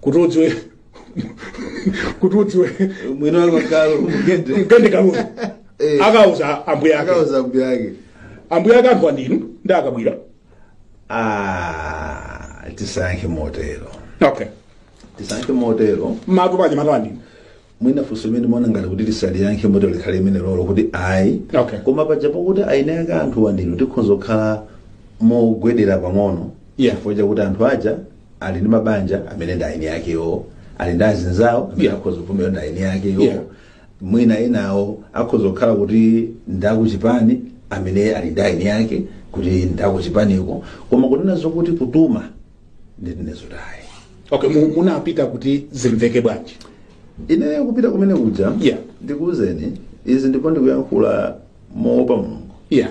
kuti udziwe kuti udziwe mwina wako kalulu mugende mgende kalulu Eh. akauza ambuya ake akauza mbuya ake ambuya ake anthu andinu ndi akabwira ah tisankhe motero okay tisankhe motero matu paja matu andinu mwina funso limene ndimaona ngati kuti lisanayankhidwe moti likhale limenelolo kuti ayi Okay. koma paja pakuti ayinayaka anthu wa ndinu tikhonza kukhala mogwedera pang'ono Yeah. chifukwa chakuti anthu aja ali ndi mabanja amene ndi eni akewo ali ndi azinzawo amene Yeah. akhoza kuvomera ndi eni akewo Yeah. mwina enawo akhoza kukhala kuti ndakuchipani amene ali ndi eni ake kuti ndakuchipaniko koma kunena zokuti kutuma ndi ine izo ayi okay mu- munapita kuti zimveke bwanji ine kupita kumene kuja Yeah. ndikuwuzeni izi ndipo ndikuyankhula moopa mulungu yeah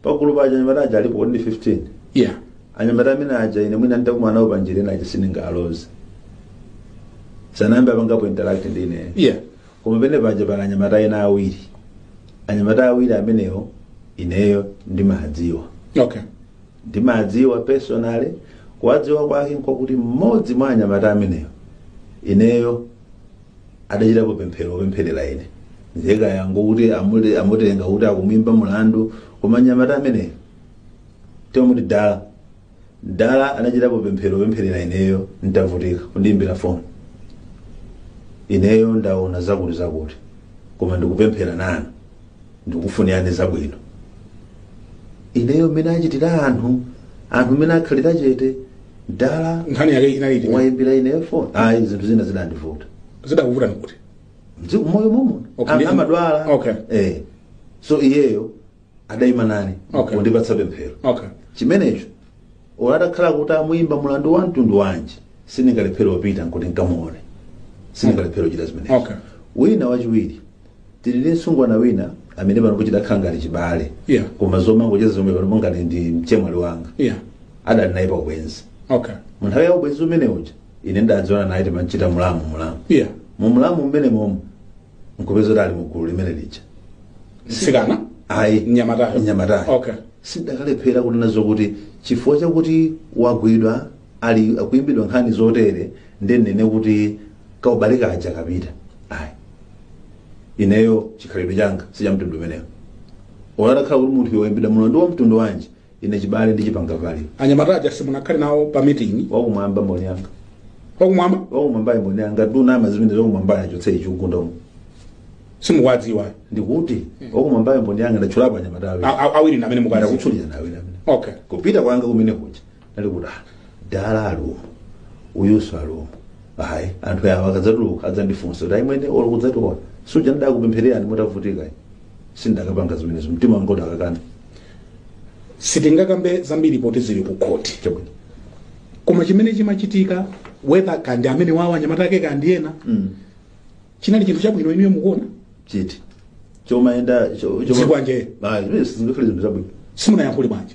pagulu pa anyamata aja alipo ndi 15 yeah anyamata amene aja ine mwina nditakumana nawo panjira ena aja sindingaloze sanayambe apangapo interact ndi ine yeah koma pamene paja pali anyamata ena awiri anyamata awiri amenewo ineyo ndimadziwa okay ndimadziwa personally kuwadziwa kwake nkokuti mmodzi mwa anyamata ameneyo ineyo adachitapo pemphero lopempherera ine nzeka yanga kuti amule- amutenga kuti akumwimba mulandu koma nyamata ameneyo timamuti Dala Dala anachitapo pemphero kupempherera ineyo ntavutika kundiimbira foni ineyo ndaona zakuti zakuti koma ndikupempherera nanu ndikufunirani zabwino ineyo mmene achitira anthu anthu mmene akhalira chete Dala nkhani yake inali iti wayimbira ineyo foni ayi zinthu zina zidandivuta zidakuvuta nkuti Mzi- moyo momuno Okay, ndi- amadwala okay. eh. so iyeyo adayima nane Okay. kundipatsa pemphero okay chimenecho ola adakhala kuti amuyimba mulandu wa mtundu wanji sindingalephere kupita nkuti nkamuone sindingalephere kuchita zimenezo Okay. wina wachiwiri tidali ndi msungwana wina amene panopo tidakhala ngati chibale Yeah. koma zomangocheza zomwe panopo ngati ndi mchemwali wanga yeah adali naye pa ubwenzi okay mu nthawi ya ubwenzi umene uja ine ndidadziwana naye timachita mulamu mulamu yeah mu mulamu mmene momo nkupeza kuti ali mu gulu limene lija Mtsikana ayi Mnyamatayo. mnyamatayo Okay. sindakalephera kunena zokuti chifukwa chakuti wagwidwa ali akuimbidwa nkhani zotere ndiye ndinene kuti kaubale kaja kapita ayi ineyo chikhalidwe changa sichamtundu umenewo ola atakhala kuti munthu yoimbidwa mulandu wa mtundu wanji ine chibale ndimachipanga value anyamata aja simunakhale nawo pa meeting wakumwamba mboni yanga wakumwamba wakumwambayo mboni yanga tunama zimene zakumwambayo achotse ichiugundomo simukuwadziwa ndikuti wakumwambayo mboni yanga ndatchulapo anyamata awiri A- a- awiri ndi amene mukazi ndakutchulira nawe namene okay kupita kwanga kumene kuja nali kuti "Ah, dala ali umu uyuso ali umu ayi anthu awa akadzatuluka adzandifunsa kuti ayimwene olo kudzationa suja ndidakupemphererani mutavutika sindakapanga zimenezo mtima wanga udakakana sitingakambe zambiri poti zili ku khoti chabwino koma chimene chimachitika whether kaya ndi amenewawa anyamata ake kaya ndi ena Mm. chinali chinthu chabwino inuyo mukuona chiti chomayenda Zikwanje. singakhale zinthu zabwino simunayankhule bwanji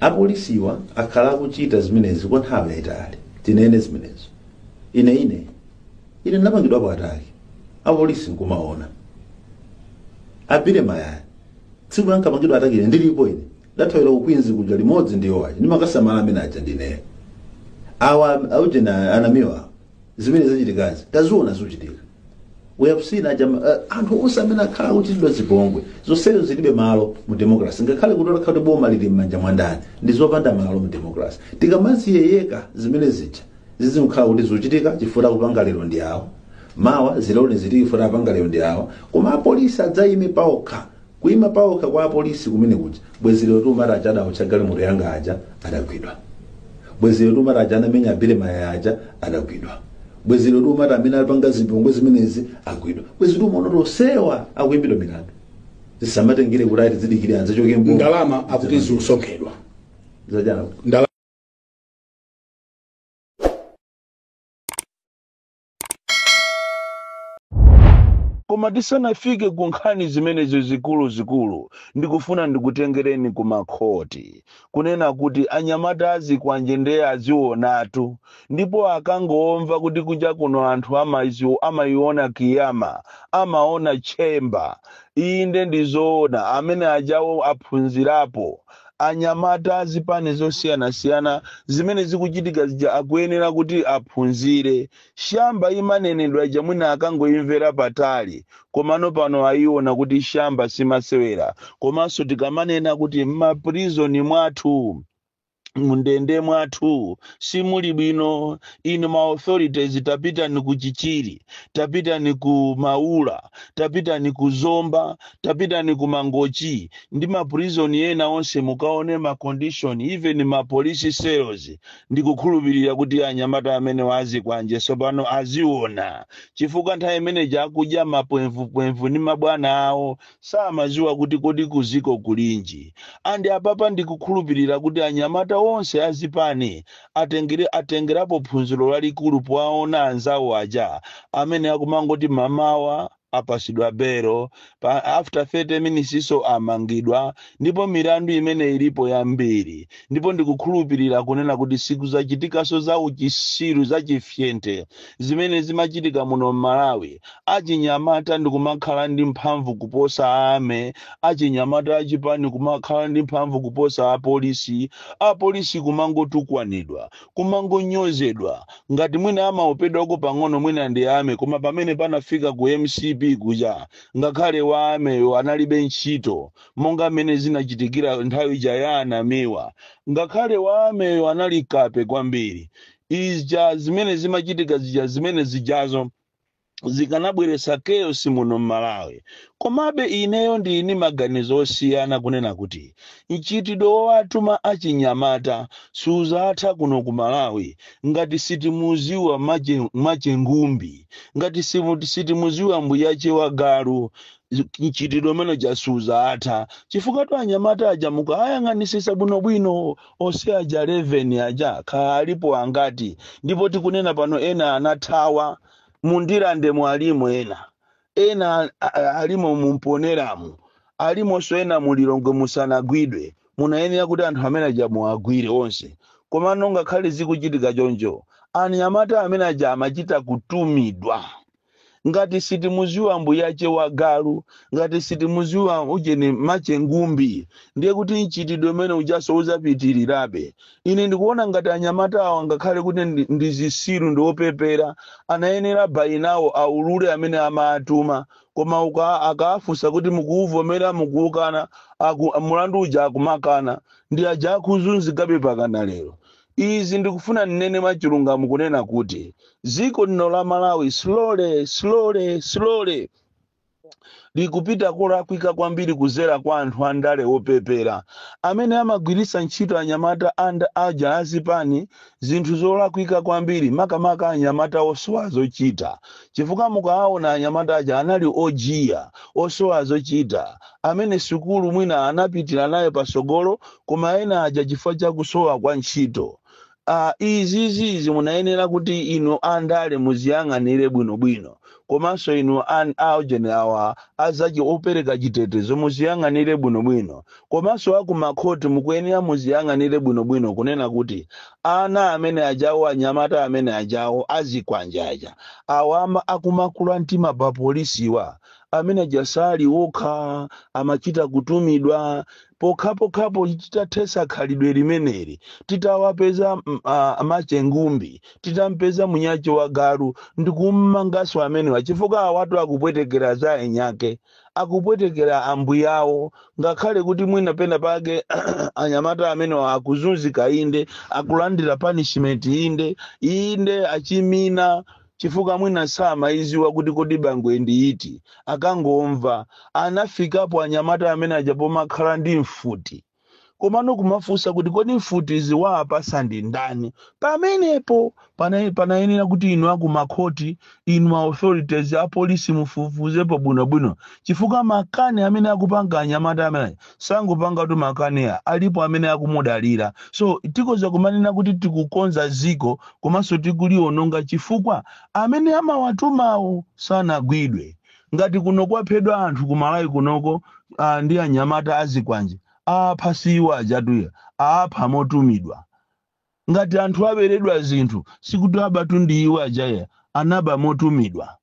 apolisiwa akhala akuchita zimenezi kwa nthawi yayitali tinene zimenezo ine ine ine ndinapangidwapo attack apolisi nkumaona a Billy Mayaya tsiku lankapangidwa attack ine ndilipo ine ndathawira ku Queens kuja limodzi ndi yowayi ndimakasamala amene aja ndineyo awa aujena a Namiwa zimene zachitikazi taziona zikuchitika we have seen ajama uh, anthu onse amene akhala akuchitidwa zipongwe zonsezo zilibe malo mu democracy ngakhale kuti otakhala kuti boma lili m'manja mwa ndani ndi zopanda malo mu democracy tikamaziyeyeka zimene zija zizikhala kuti zikuchitika chifukwa akupanga lero ndi awo mawa zilone zili chifukwa apanga lero ndi awo koma apolisi adzayime paokha Kuima paokha kwa apolisi kumene kuja. Bwezi lero tiumati aja adaotcha galimoto yanga aja adagwidwa. Bwezi lero tiumati aja anamenya a Billy Mayaya aja adagwidwa. Bwezi lero tiumati amene alipanga zipongwe zimenezi agwidwa. Bwezi tiumaona kuti onsewa akuimbidwa milandu. Zisamatengere kuti ati zidikire adzachoke m'boma. ndalama akuti zikusonkhedwa Zajana. Ndala- Koma tisanafike ku nkhani zimenezo zikuluzikulu, ndikufuna ndikutengereni ku makhoti. Kunena kuti anyamata a zikwanje ndiye azionatu. Ndipo akangomva kuti kunja kuno anthu amaizi- amaiona Kiyama, amaona tchemba. Inde ndi zoona, amene ajawo aphunzirapo. anyamata a zipani zosiyanasiyana zimene zikuchitika zija akuyenera kuti aphunzire. Shamba imanenedwa ija mwina akangoimvera patali komano pano aiona kuti shamba si masewera. Komanso tikamanena kuti m'maprison mwathu, mundende mwathu simuli bwino, inu ma authorities tapitani ku Chichiri, tapitani ku Maula, tapitani ku Zomba, tapitani ku mangochi ndi ma prison ena onse mukaone ma condition even ma police cells ndikukhulupirira kuti anyamata amenewa azikwanje tsopano aziona chifukwa nthawi imeneja akudya mapwemvupwemvu ndi mabwana awo samaziwa kuti kodi kuziko kulinji and apapa ndikukhulupirira kuti anyamata onse azipani atengere atengerapo phunziro lalikulu powaona anzawo aja amene akumangoti mamawa apasidwa belo after 30 minutes so amangidwa ndipo milandu imene ilipo yambiri ndipo ndikukhulupirira kunena kuti sikuzachitikaso za uchisiru za chifyente zimene zimachitika muno mmalawi achinyamata ndikumakhala ndi mphamvu kuposa army achinyamata achipani kumakhala ndi mphamvu kuposa apolisi apolisi kumangotukwanidwa kumangonyozedwa ngati mwina amaopedwako pang'ono mwina ndi army koma pamene panafika ku mcp kuja ngakhale wa army yo analibe ntchito monga mmene zinachitikira nthawi ija ya a Namiwa ngakhale wa army yo anali kape kwambiri ija zimene zimachitika zija zimene zijazo zikanabweretsa chaos muno m'Malawi. Komabe ineyo ndili ndi maganizo osiyana kunena kuti mchitidwe wowatuma achinyamata suzatha kuno ku Malawi ngati sitimuziwa mache, mache ngumbi, ngati simu- sitimuziwa mbuyache wa galu mchitidwe umene uja suzatha chifukwatu anyamata aja mukawayang'anisisa bwinobwino onse aja 11 aja kaya alipo angati ndipo tikunena pano ena anathawa mu Ndirandemu alimo ena ena a- a- alimo mu Mponelamu alimonso ena mu Lilongwe musanagwidwe munayenera kuti anthu amene aja muwagwire onse komano ngakhale zikuchitika choncho anyamata amene aja amachita kutumidwa ngati sitimuziwa mbuyache wa galu ngati sitimuziwa ujeni mache ngumbi ndiye kuti mchitidwe umene ujaso uzapitirirabe ine ndikuona ngati anyamata awa ngakhale kuti ndi, ndi zisiru ndi opepera anayenera bayinawo aulule amene amaatuma koma uka akaafunsa kuti mukuuvomera mukuukana aku, mulandu uja akumakana ndi aja akuzunzikabe pakana lero izi ndikufuna nnene mwachilungamo kunena kuti dziko lino la malawi slowly slowly slowly likupita kolakwika kwambiri kuzera kwa anthu andale opepera amene amagwiritsa ntchito anyamata aja azipani zinthu zolakwika kwambiri makamaka anyamata osowa zochita chifukwa mukaawona anyamata aja anali ojiya osowa zochita amene sukulu mwina anapitira nayo pasogolo koma ena aja chifukwa cha kusowa kwa ntchito Aaa izizi izi munayenera kuti inu andale muziyang'anire bwino bwino komanso inu a ujeni awa a zachi- opereka chitetezo muziyang'anire bwino bwino komanso a ku makhoti mukuyenera muziyang'anire bwino bwino kunena kuti ana amene ajawo anyamata amene ajawo azikwanje aja awa ama akumakula mtima pa polisiwa amene aja sali okha amachita kutumidwa Pokhapokhapo titathetsa khalidwe limeneli, titawapeza a Machengumbi, titampeza Munyache wa galu ndikummanganso amenewa chifukwa awatu akupwetekera a enyake, akupwetekera ambuyawo ngakhale kuti mwina pena pake anyamata amenewa akuzunzika inde, akulandira punishment inde, inde achimina chifukwa mwina samaiziwa kuti kodi bangwe ndi iti akangomva anafikapo anyamata amene aja pomakhala ndi mfuti komano kumafunsa kuti kodi mfutizi waapasa ndi ndani pamenepo panayenera kuti inu akumakhoti inu ma authorities apolisi mufufuzepo bwinobwino chifukwa makani amene akupanga anyamata amene aja sangopangatu makani a alipo amene akumudalira so tikoza kumanena kuti tikukonza ziko komanso tikuliononga chifukwa amene amawatumawo sanagwidwe ngati kuno kwaphedwa anthu ku malawi kunoko uh, ndi anyamata azikwanje aapha siwo ajatuya aapha motumidwa ngati anthu aberedwa zinthu sikuti abatu ndi iwo ajaya anaba motumidwa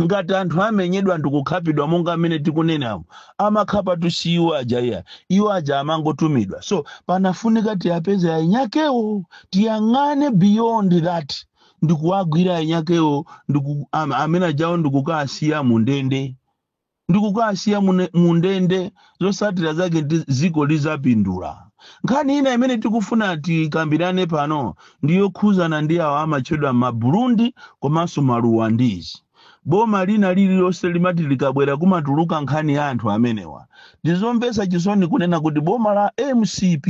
ngati anthu amenyedwa ndikukhapidwa monga amene tikunenamo amakhapatu si iwo aja iya iwo aja amangotumidwa so panafunika tiyapeze ainyakewo tiyang'ane beyond that ndikuwagwira ainyakewo amene ajawo ndikukasiya mu ndende ndi kukasiya mu ndende zotsatira zake ndi dziko lidzapindula nkhani ina imene tikufuna tikambirane pano ndi yokhuzana ndi awo amatchedwa maburundi komanso maruwandizi boma lina lililonse limati likabwera kumatuluka nkhani ya anthu amenewa ndizomvetsa chisoni kunena kuti boma la mcp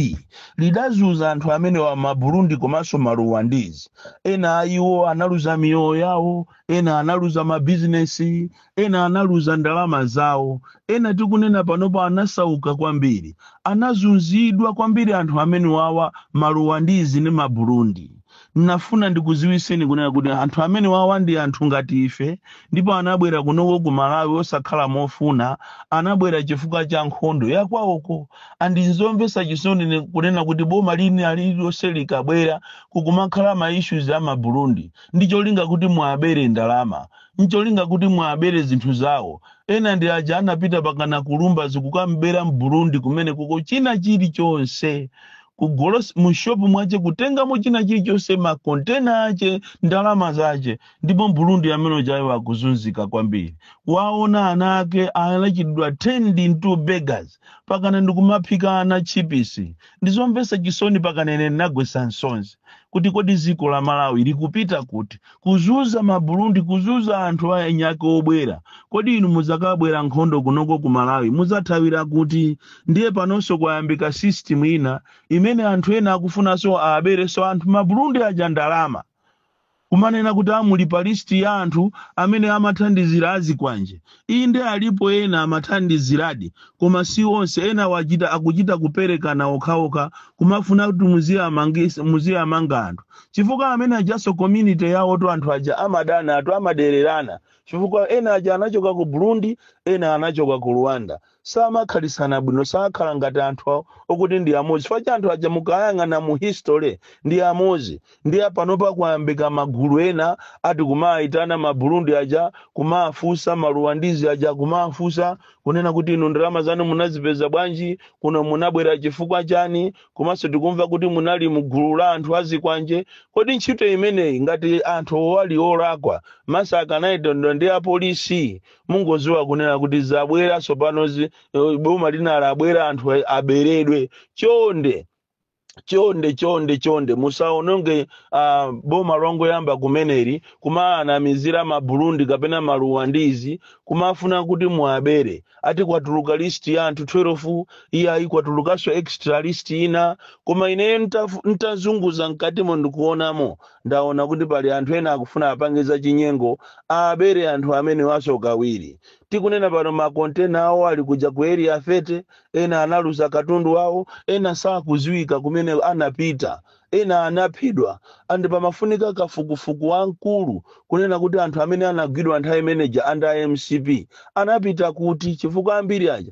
lidazunza anthu amenewa maburundi komanso maruwandizi ena a iwo analuza miyoyo yawo ena analuza mabizinesi ena analuza ndalama zawo, ena tikunena panopo anasauka kwambiri, anazunzidwa kwambiri anthu amenewawa maluwandizi ndi ma burundi nafuna ndikuziwiseni kunena kuti anthu amenewawa ndi anthu ngati ife ndipo anabwera kunoko ku malawi osakhala mofuna anabwera chifukwa cha nkhondo yakwawoko and nzomvesa chisoni kunena kuti boma lina lililonse likabwera kukumakhala ma issues a ma burundi ndi cholinga kuti muabere ndalama ncholinga kuti muabere zinthu zawo. Ena ndi aja anapita pakana kulumba zikukamubera m'Burundi kumenekoko china chilichonse kugolosale mushopu mwache kutengamo china chilichonse makontena ache ndalama zache ndipo m'Burundi amene ujayo akuzunzika kwambiri waona ana ake anachitidwa turned into beggars pakana ndikumaphika ana tchipisi ndizomvetsa chisoni pakana ine ndinagwetsa nsonzi kuti kodi dziko la Malawi likupita kuti kuzuza maburundi kuzuza anthu anyake obwera kodi inu muzakabwera nkhondo kunoko ku malawi muzathawira kuti ndiye panonso kwayambika system ina imene anthu ena akufunanso aberenso anthu maburundi aja ndalama kumanena kuti ati muli pa listi ya anthu amene amathandizira azikwanje Inde alipo ena amathandiziradi koma si onse, ena achita akuchita kuperekana okhaokha kumafuna kuti muziamanga anthu chifukwa amene ajaso community yawotu anthu aja amadanatu amadererana chifukwa ena aja anachoka ku Burundi ena anachoka ku Rwanda samakhalitsana bwino sakhala ngati anthu okuti ndi amodzi chifukwa anthu aja mukayang'ana mu history ndi amodzi nde panopa kwayambika magulu ena ati kumayitana maburundi aja kumafunsa maruwandizi aja kumafunsa kunena kuti inu ndalama zanu munazipeza bwanji kuno munabwera chifukwa chani komanso tikumva kuti munali mu gulu la anthu azikwanje kodi ntchito imeneyi ngati anthu ali olakwa mesa akanayitanidwa ndi apolisi mwangoziwa kunena kuti zabwera tsopanozi eh, boma lina labwera anthu a- aberedwe chonde chonde chonde chonde musaononge uh, boma longoyamba kumeneli kumaanamizira maburundi kapena maruwandizi kumafuna kuti muabere ati kwatuluka list ya anthu 12 iyayi kwatulukanso extra list ina koma ineyo ntazunguza mkatimo ndikuonamo Ndaona kuti pali anthu ena akufuna apange zachinyengo abere anthu amenewaso kawiri. Tikunena pano ma container awo ali kuja ku area 30, ena analuza katundu wawo, ena sakuziwika kumene anapita, ena anaphedwa and pamafunika kafukufuku wamkulu kunena kuti anthu amene anagwidwa nthawi imeneija under mcp anapita kuti chifukwa ambiri aja